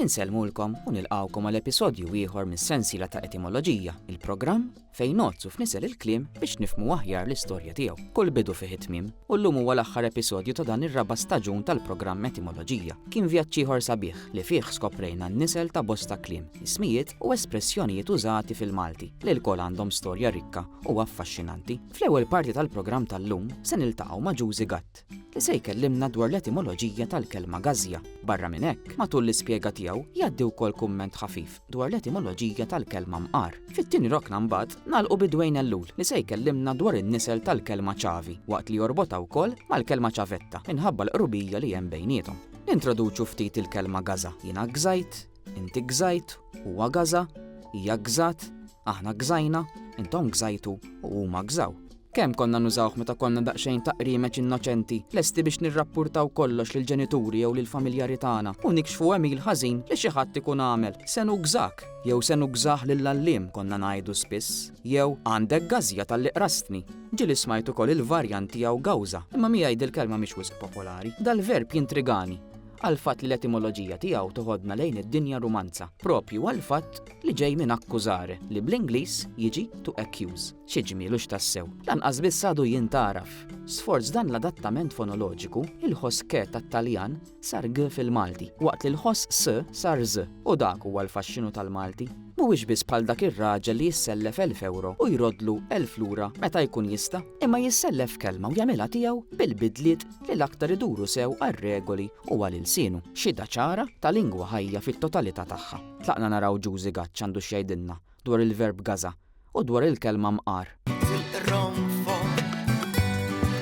Insellmulkom u nilqgħukom għal episodju ieħor mis-sensiela ta' Etimoloġija, il-programm fejn nogħodsu f'nisel il-kliem biex nifhmu aħjar l-istorja tiegħu. Kull bidu fih it-tmiem, u llum huwa l-aħħar episodju ta' dan ir-raba' staġun tal-programm Etimoloġija. Kien vjaġġ ieħor sabiħ li fih skoprejna n-nisel ta' bosta kliem, ismijiet u espressjonijiet użati fil-Malti li lkoll għandhom storja rikka u affaxxinanti. Fl-ewwel parti tal-programm tal-lum se niltaqgħu ma' Ġużi Gatt. se jkellimna dwar l-etimoloġija tal-kelma gażja. Barra minn hekk, matul l-ispjega tiegħu jgħaddi wkoll kumment ħafif dwar l-etimoloġija tal-kelma mqar. Fit-tieni rokna mbagħad nagħlqu bi Dwayne Ellul li se jkellimna dwar in-nisel tal-kelma ċavi waqt li jorbotha wkoll mal-kelma ċavetta minħabba l-qrubija li hemm bejniethom. Nintroduċu ftit il-kelma gaża. Jiena gżajt, Inti gżajt, huwa gaża, hija gżat, aħna gżajna, intom gżajtu u huma gżaw. Kemm konna nużawh meta konna daqsxejn ta' qriemeċ innoċenti, lesti biex nirrappurtaw kollox lill-ġenituri jew lill-familjari tagħna u nikxfu għemil ħażin li xi ħadd ikun għamel. Se nugżak! Jew se nugżah lill-għalliem konna ngħidu spiss. Jew għandek gażja talli qrastni. Ġieli smajt ukoll il-varjant tiegħu gawża, imma miegħi dil-kelma mhix wisq popolari. Dal-verb jintrigani. għall-fatt li l-etimoloġija tiegħu toħodna lejn id-dinja rumanza, proprju għall-fatt li ġej minn accusare, li bl-Ingliż jiġi to accuse. Xi ġmiel hux tassew! Lanqas biss għadu jien tagħraf. Sforz dan l-adattament fonoloġiku, il-ħoss ke tat-Taljan sar g fil-Malti, waqt li l-ħoss s sar ż, u dak huwa l-faxxinu tal-Malti. Mhuwiex biss bħal dak ir-raġel li jissellef elf ewro u jroddlu elf lura meta jkun jista', imma jissellef kelma u jagħmilha tiegħu bil-bidliet li l-aktar iduru sew għar-regoli u għal ilsienu. Xhieda ċara ta' lingwa ħajja fit-totalità tagħha. Tlaqna naraw Ġużi Gaċ għandu x'jgħidilna dwar il-verb gaza u dwar il-kelma mqar. Tilqronfok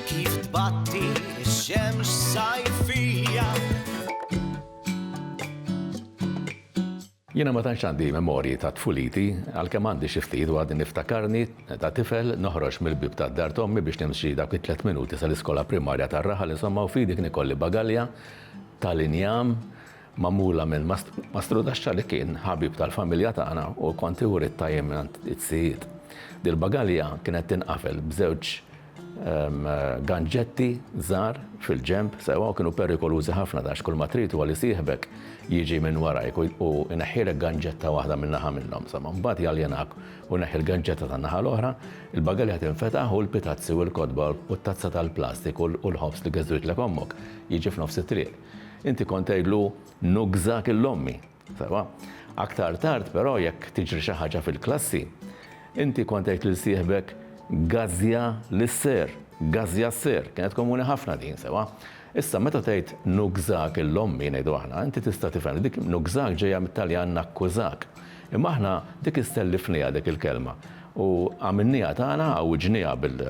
kif tbatti x-xemx sajfija. Jiena ma tantx għandi memorji ta' tfuliti, għalkemm għandi xi ftit u għadni niftakarni ta' tifel noħroġ mill-bieb tad-dar t'ommi biex nimxi dawk it-tliet minuti sal-iskola primarja tar-raħal insomma u f'idi kien ikolli bagalja tal-injam magħmula minn Mastru Daxxa li kien ħabib tal-familja tagħna u kont iwrid tajjeb mingħand iz-zijiet. Dil-bagalja kienet tinqafel b'żewġ Ganġetti żgħar fil-ġenb sewwa kienu perikolużi ħafna għax kull ma trid huwa li sieħbek jiġi minn warajk u jneħħilek ganġetta waħda minn naħa minnhom sewwa. Mbagħad jaljenak u jneħħi l-ganġetta tan-naħa l-oħra, il-bagalja tinfetaħ u l-pitazzi u l-kotba u t-tazza tal-plastik u l-ħobż li geżżwitlek ommok jiġi f'nofs it-triq. Inti kont tgħidlu, Nugżak 'il ommi! Sewa, aktar tard però jekk tiġri xi ħaġa fil-klassi, inti kont tgħid lil sieħbek gażja lis-sir, gażja s-sir, kienet komuni ħafna din, sewa. Issa meta tgħid nugżak il ommi, ngħidu aħna, inti tista' tifhem li dik nugżak ġejja mit-Taljan nakkużak. Imma aħna dik issellifnieha dik il-kelma u għamilnieha tagħna, għawwiġnieha bil,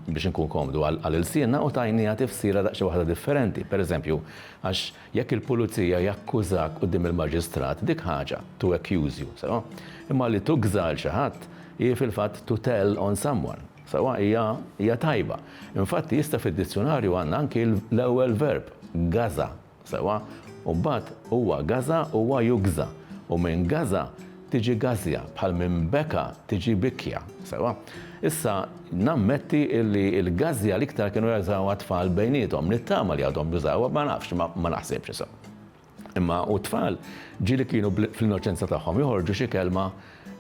biex inkun komdu għal ilsienna u tajnieha tifsira daqsxejn waħda differenti. Pereżempju, għax Jekk il-pulizija jakkużak quddiem il-maġistrat, dik ħaġa, to accuse you, sewwa? Imma li tukża lil xi ħadd, hi fil-fatt to tell on someone, sewwa? Hija, hija tajba. Infatti, issa fid-dizzjunarju għandna anki l-ewwel verb, gaża, sewwa? U mbagħad, huwa gaża, huwa jugża. U min gaża, Tiġi gażja, bħal minn beka tiġi bikja. Sewwa. Issa, nammetti illi l-gażja l-iktar kienu jażawha t-tfal bejniethom. Nittama li għadhom jużawha, ma nafx, imma ma naħsibx issa. Imma u t-tfal ġieli kienu fl-innoċenza tagħhom joħorġu xi kelma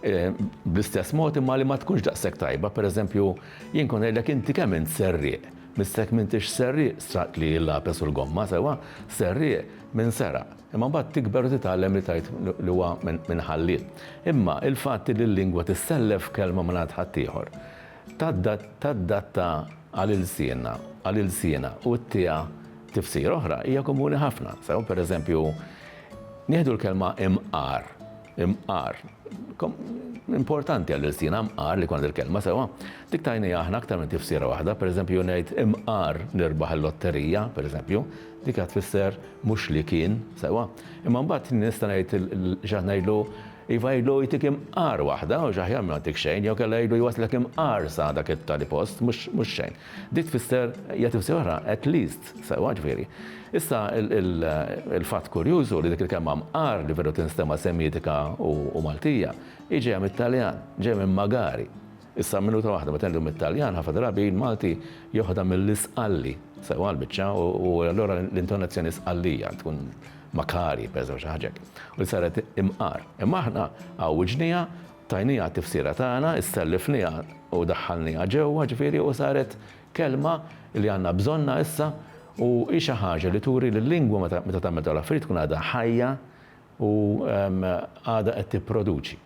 bl-istess mod imma li ma tkunx daqshekk tajba, pereżempju, jien kont ngħidlek inti kemm int serrieq. Missek m'intix serrieq straqt li l-lapes u l-gomma sewwa, serrieq min seraq. Imma mbagħad tikber u titgħallem li tgħid li huwa min ħalliet. Imma il-fatt li l-lingwa tissellef kelma mingħand ħaddieħor, taddatta għal ilsienna, għal ilsiena u ttiha tifsira oħra hija komuni ħafna. Sew, pereżempju, nieħdu l-kelma imqar. Imqar. Importanti għal ilsina mqar li kont il-kelma sewa. Dik tajni aħna aktar minn tifsira waħda, pereżempju ngħid imqar nirbaħ il-lotterija, pereżempju, dik qed tfisser mhux li kien sewa. Imma mbagħad nista' ngħid x'qed ngħidlu iva jgħidlu jtik imqar waħda u x'aħjar ma ntik xejn jew kellha jgħidlu jwasslek imqar sa dak it-tali post mhux xejn. Dik tfisser hija tifsira oħra, at least, sewwa, ġifieri. Issa, il-fatt kurjuż hu li dik il-kelma mqar li veru tinstema' Semitika u Maltija, hi ġejja mit-Taljan, ġejja minn magari. Issa, minuta waħda, meta ngħidu mit-Taljan, ħafna drabi l-Malti joħodha mill-isqalli, sewwa l-biċċa, u allura l-intonazzjoni sqallija tkun makari, pereżempju, xi ħaġa hekk, u li saret imqar. Imma aħna hawn wiġnejha Tajniha t-tifsira tagħna, issellifniha u daħħalniha ġewwa, ġifieri, u saret kelma li għandna bżonnha issa u hi xi ħaġa li turi li l-lingwa meta meta tagħmel dawn l-affarijiet tkun għadha ħajja u għadha qed tipproduċi.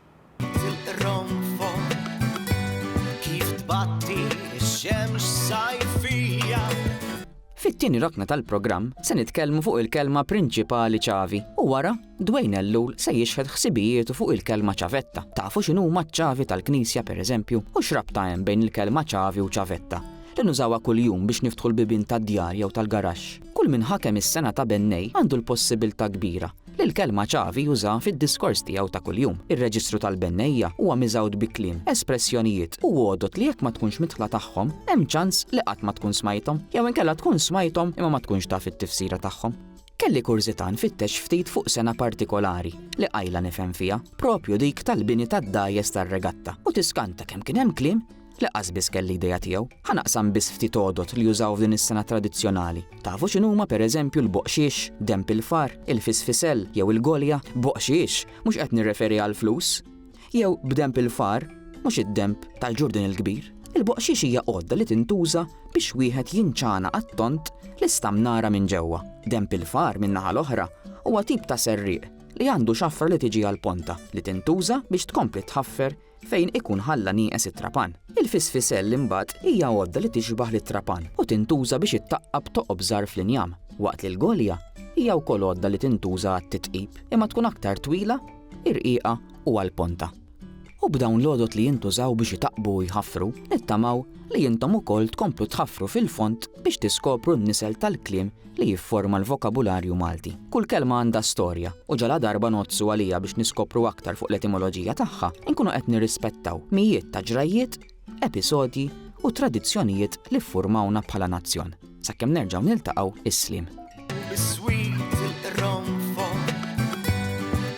Tilqronfon kif tbatti x-xemx sajfija. Fit-tieni rokna tal-programm se nitkellmu fuq il-kelma prinċipali ċavi u wara Dwayne Ellul se jixħet ħsibijietu fuq il-kelma ċavetta. Tafu x'inhuma ċ-ċavi tal-knisja pereżempju? U x'rabta hemm bejn il-kelma ċavi u ċavetta? Li nużawha kuljum biex niftħu l-bibien tad-djar jew tal-garaxx. Kull min ħakem is-sengħa ta' bennej għandu l-possibiltà kbira li l-kelma ċavi jużaha fid-diskors tiegħu ta' kuljum. Ir-reġistru tal-bennejja huwa miżgħud bi kliem, espressjonijiet u għodod li jekk ma tkunx midħla tagħhom, hemm ċans li qatt ma tkun smajthom, jew inkella tkun smajthom imma ma tkunx taf it-tifsira tagħhom. Kelli kurżità nfittex ftit fuq sengħa partikolari li qajla nifhem fiha, proprju dik tal-bini tad-dgħajjes tar-regatta, u tiskanta kemm kien hemm kliem li qasbiss kelli idea tiegħu. Ħa naqsam biss ftit għodod li jużaw f'din is-sengħa tradizzjonali. Tafu x'inhuma pereżempju l-boqxiex, denb il-far, il-fisfisell jew il-golja? Boqxiex! Mhux qed nirreferi għall-flus! jew b'denb il-far, mhux id-denb tal-Ġurdin il-Kbir. Il-boqxix hija għodda li tintuża biex wieħed jinċana għat-tont l-istamnara minn ġewwa. Denb il-far, min-naħa l-oħra, huwa tip ta' serrieq li għandu xafra li tiġi għall-ponta, li tintuża biex tkompli tħaffer fejn ikun ħalla nieqes it-trapan. Il-fisfisell imbagħad hija għodda li tixbah lit-trapan u tintuża biex ittaqqab toqob żgħar fl-injam, waqt li l-golja hija wkoll għodda li tintuża għat-titqib, imma tkun aktar twila ir-rqiqa u għall-ponta. U b'dawn l-għodod li jintużaw biex itaqqbu u jħaffru, nittamaw li intom ukoll tkomplu tħaffru fil-fond biex tiskopru n-nisel tal-kliem li jifforma l-vokabularju Malti. Kull kelma għandha storja u ġaladarba ngħoddsu għaliha biex niskopru aktar fuq l-etimoloġija tagħha, inkunu qed nirrispettaw mijiet ta' ġrajjiet episodji u tradizzjonijiet li ffurmawna bħala nazzjon. Sakemm nerġgħu niltaqgħu is-slim. Is-swit il-qronfo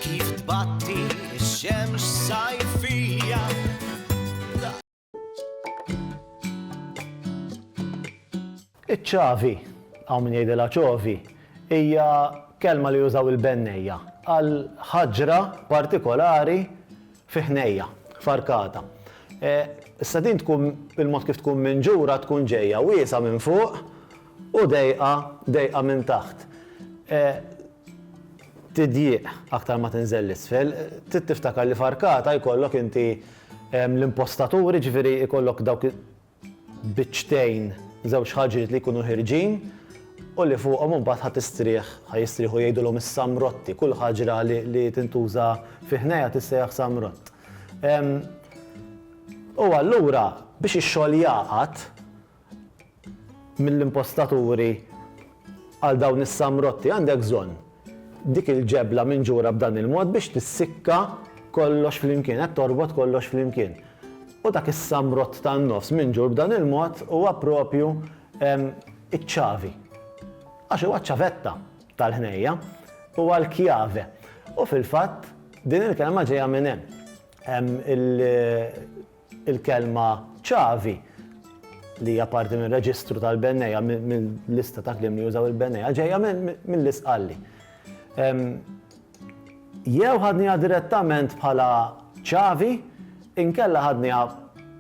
kif tbatti x-xemx sajfija. Iċ-ċavi, hawn min jgħidilha ċovi, hija kelma li jużaw il-bennejja għal ħaġra partikolari fi ħnejja, farkata. Issa din tkun, il-mod kif tkun minġura tkun ġejja wiesgħa minn fuq u dejqa, dejqa minn taħt. Tidjieq aktar ma tinżel 'l isfel. Trid tiftakar li farkata jkollok inti l-impostaturi, jiġifieri jkollok dawk biċċtejn, żewġ ħaġiet li jkunu ħierġin u li fuqhom imbagħad ħa tistrieħ, ħa jistrieħu jgħidulhom is-samrotti, kull ħaġra li tintuża fi ħnejja tissejjaħ samrott. U allura biex ix-xogħol jagħqad mill-impostaturi għal dawn is-samrotti għandek bżonn Dik il-ġebla minġura b'dan il-mod biex tissikka kollox flimkien, qed torbot kollox flimkien. U dak is-samrott tan-nofs minġur b'dan il-mod huwa proprju iċ-ċavi. Għax huwa ċ-ċavetta tal-ħnejja, huwa l-chiave. U fil-fatt din il-kelma ġejja minn hemm. Il-kelma ċavi, li hija parti minn reġistru tal-bennejja, mill-lista ta' kliem li jużaw il-bennejja, ġejja mill-Isqalli. Jew ħadniha direttament bħala ċavi, inkella ħadniha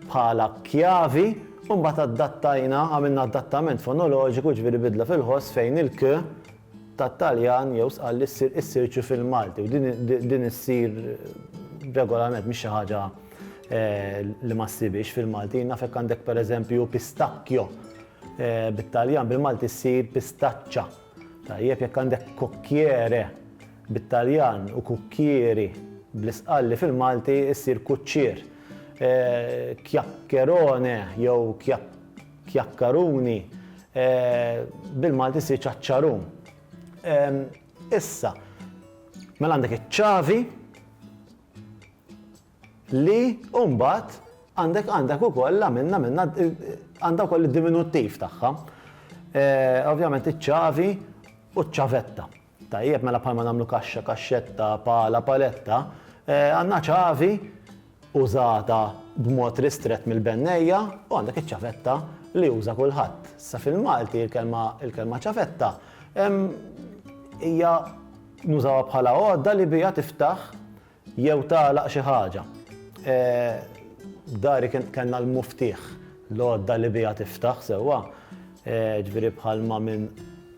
bħala kjavi u mbagħad addattajna, għamilna adattament fonoloġiku, jiġifieri bidla fil-ħoss fejn il-k tat-Taljan jew sqal li ssir is-search fil-Malti u din din issir regolarment mhix xi ħaġa li ma ssibhiex fil-Malti. Naf jekk għandek pereżempju pistacchio bit-Taljan bil-Malti ssir pistaccia. Tajjeb jekk għandek cocchiere bit-Taljan u cucchieri bl-isqalli fil-Malti ssir kuċċier. Chiaccherone jew chiac Kjakkaruni, bil-Malti ssir ċaċċarun. Issa, mela għandek iċ-ċavi li u mbagħad għandek għandek ukoll għamilna minna għandha wkoll id-diminuttiv tagħha. Ovvjament iċ-ċavi u ċ-ċavetta. Tajjeb, mela bħalma nagħmlu kaxxa, kaxxetta, pala, paletta, għandna ċavi użata b'mod ristrett mill-bennejja u għandek iċ-ċavetta li juża kulħadd. Issa fil-Malti l-kelma l-kelma ċavetta hija nużawha bħala għodda li biha tiftaħ Jew tagħlaq xi ħaġa. F'dari kellna l-muftieħ, l-għodda li biha tiftaħ sewwa, jiġifieri bħalma minn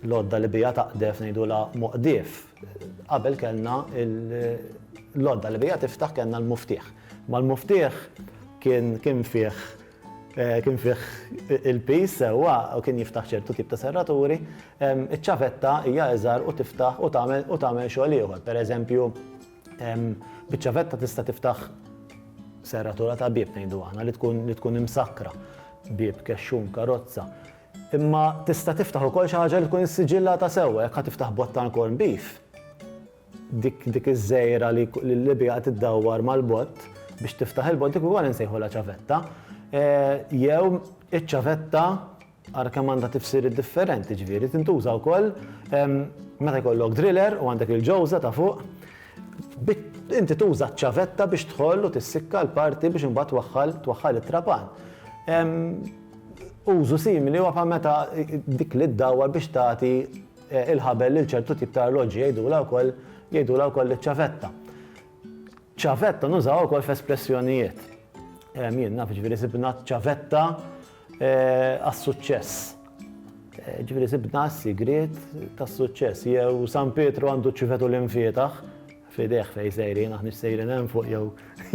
l-għodda li biha taqdef ngħidulha moqdief. Qabel kellna l-għodda li biha tiftaħ kellna l-muftieħ. Imma l-muftieħ kien fih Kien fih il-piż sewwa u kien jiftaħ ċertu tip ta' serraturi. Iċ-ċavetta hija iżgħar u tiftaħ u tagħmel u tagħmel xogħol ieħor. Pereżempju, biċ-ċavetta tista' tiftaħ serratura ta' bieb ngħidu aħna li tkun li tkun imsakkra, bieb, kexxun, karozza. Imma tista' tiftaħ ukoll xi ħaġa li tkun issiġillata sewwa, jekk ħa tiftaħ bottal corned beef, Dik dik iż-żejra li l-Libja qed iddawwar mal-bott biex tiftaħ il-bott dik ukoll insejħulha ċavetta. Jew iċ-ċavetta ara kemm għandha tifsiriet differenti, ġifieri tintuża wkoll meta jkollok driller u għandek il-ġewża ta' fuq, inti tuża ċ-ċavetta biex tħoll u tissikka l-parti biex imbagħad twaħħal twaħħal it-trapan. Użu simili huwa bħal meta dik li ddawwar biex tagħti il-ħabel lil ċertu tip ta' arloġġi jgħidulha wkoll jgħidulha wkoll iċ-ċavetta. Ċavetta nużaw ukoll f'espressjonijiet. Jien naf ġifieri sibna ċavetta eh, għas-suċċess. Eh, ġifieri sibna s-sigriet tas-suċċess jew San Pietru għandu ċivetu l-infietaħ fideħ fej sejrin, aħni sejrin hemm fuq jew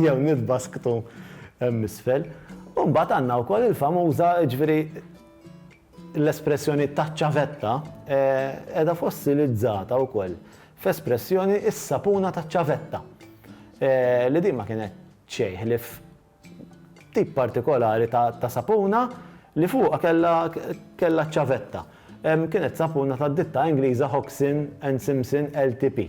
jew nitbasktu hemm isfel. Mbagħad għandna wkoll il-famuża ġifieri L-espressjoni taċ-ċavetta qiegħda fossilizzata wkoll f'espressjoni is-sapuna taċ-ċavetta, li din ma kienet xejn ħlief tip partikolari ta' sapuna li fuqha kellha ċ-ċavetta. Kienet sapuna tad-ditta Ingliża Hoxsson and Simpson LTP.